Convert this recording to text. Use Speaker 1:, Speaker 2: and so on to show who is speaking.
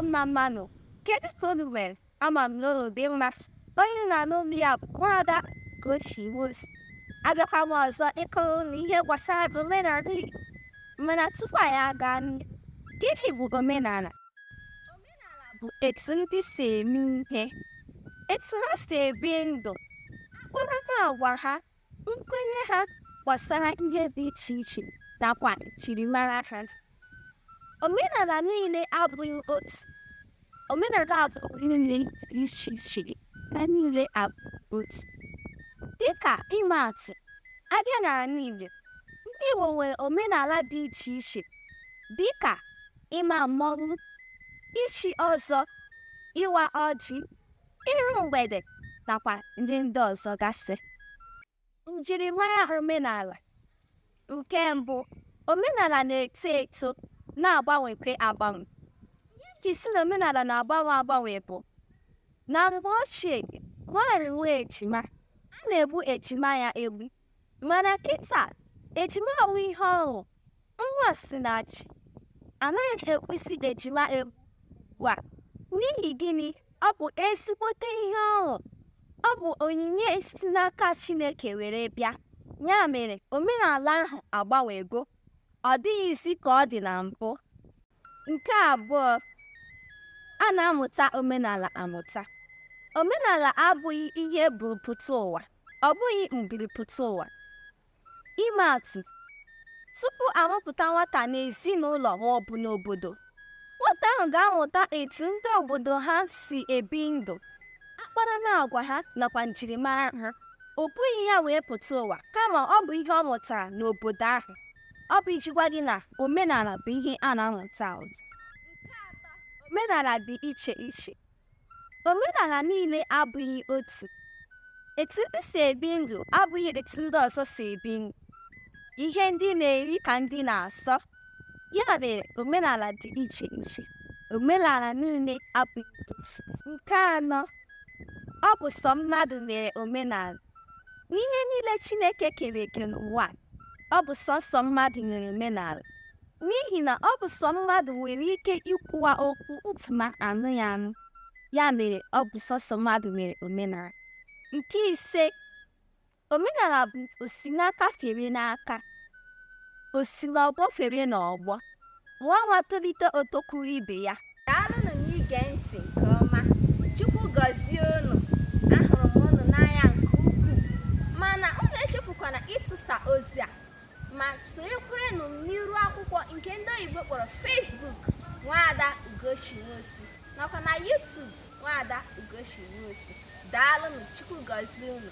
Speaker 1: mma mmanụ kedu ka unu mere ama m na unu dị mma onye na-anụ olu ya bụ nwaada Ugochi Nwosu abịakwa m ọzọ ịkọrọ unu ihe gbasara omenala Igbo mana tupu anyị aga n'ihu gịnị bụ omenala omenala bụ etu ndị si eme ihe etu ha si ebi ndụ akparamagwa ha nkwenye ha gbasara ihe dị iche iche nakwa njirimara ha omenala niile abụghị otu omenala niile dị iche iche ha niile abụghị otu dịka ịma atụ a bịa n'ala Igbo ndị Igbo nwere omenala dị iche iche dịka ịma mmọnwụ ichi ọzọ ịwa ọjị iru mgbede nakwa ndị ndị ọzọ gasị njirimara omenala nke mbụ omenala na-eto eto na-agbanwekwa agbanwe ihe e ji sị na omenala na-agbanwe agbanwe bụ na mgbe ochie nwaanyị nwee ejima a na-egbu ejima ya egbu Mana kịta, ejima awụ ihe ọṅụ. Nwa si na chi. A naghị egbuzi ejima egbu ugbu a. N'ihi gịnị? Ọ bụ ezigbote ihe ọṅụ. Ọ bụ onyinye si n'aka Chineke were bịa. Ya mere, omenala ahụ agbanwego. Ọ dịghịzi ka ọ dị na mbụ. Nke abụọ, a na-amụta omenala amụta. Omenala abụghị ihe e buru pụta ụwa, ọ bụghị mburu pụta ụwa. Ịma atụ, tupu a mụpụta nwata n'ezinụlọ ma ọ bụ n'obodo, nwata ahụ ga-amụta etu ndị obodo ha si ebi ndụ, akparamagwa ha nakwa njirimara ha. O bughị ya wee pụta ụwa kama ọ bụ ihe ọ mụtara n'obodo ahụ. ọ bụ iji gwa gị na omenala bụ ihe a na-amụta amụta. Nke atọ, omenala dị iche iche. Omenala niile abụghị otu. Etu ndị si ebi ndụ abụghị etu ndị ọzọ si ebi ndụ. Ihe ndị na-eri ka ndị na-asọ. Ya mere omenala dị iche iche. Omenala niile abụghị otu. Nke anọ, ọ bụ sọ mmadụ nwere omenala. N'ihe niile Chineke kere eke n'ụwa, ọ bụ sọsọ mmadụ nwere omenala. N'ihi na ọ bụ sọ mmadụ nwere ike ikwuwa okwu ntị ma anụ ya anụ. Ya mere ọ bụ sọsọ mmadụ nwere omenala. Nke ise, omenala bụ osi n'aka fere n'aka, osi n'ọgbọ fere n'ọgbọ. Nwa nwa tolite o tokwuru ibe ya. Daalụnụ n'ige ntị nke ọma. Chukwu gọzie unu. Ahụrụ m unu n'anya nke ukwuu. Mana unu echefukwana ịtụsa ozi a ma sonyekwaranụ m n'iru akwụkwọ nke ndị oyibo kpọrọ Facebook Nwaada Ugochi Nwosu nakwa na YouTube Nwaada Ugochi Nwosu. Daalụnụ, Chukwu gọzie unu.